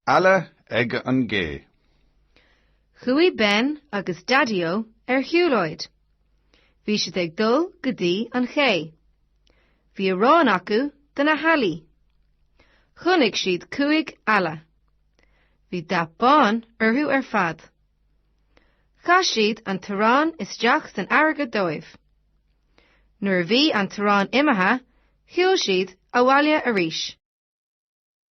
Eala ag an gcé. Chuaigh Ben agus Daideo ar shiúlóid. Bhí siad ag dul go dtí an ché. Bhí arán acu do na healaí. Chonaic siad cúig eala. Bhí dath bán orthu ar fad. Chaith siad an t-arán isteach san fharraige dóibh. Nuair a bhí an t-arán imithe, shiúil siad abhaile arís.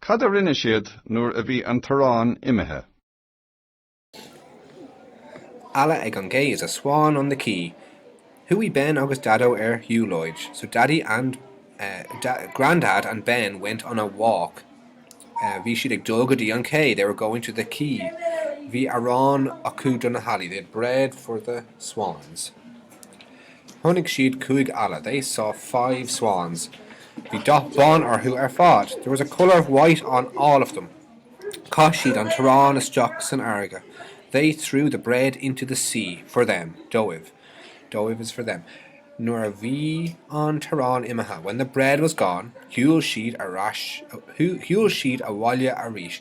Cad a rinne siad nuair a bhí an t-arán imithe? eala ag an gcé is a swan on the quay. Chuaigh Ben agus Daideo ar shiúlóid, so Daddy and Grandad and Ben went on a walk, bhí siad ag dul go dtí an cé, they were going to the quay, bhí arán acu do na healaí, they had bread for the swans. Chonaic siad cúig eala, they saw five swans. Bhí dath bán orthu ar fad, there was a colour of white on all of them. Chaith siad an t-arán isteach san fharraige, they threw the bread into the sea. For them, dóibh, dóibh is for them. Nuair a bhí an t-arán imithe, when the bread was gone. Shiúil siad abhaile arís,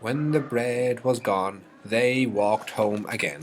when the bread was gone, they walked home again.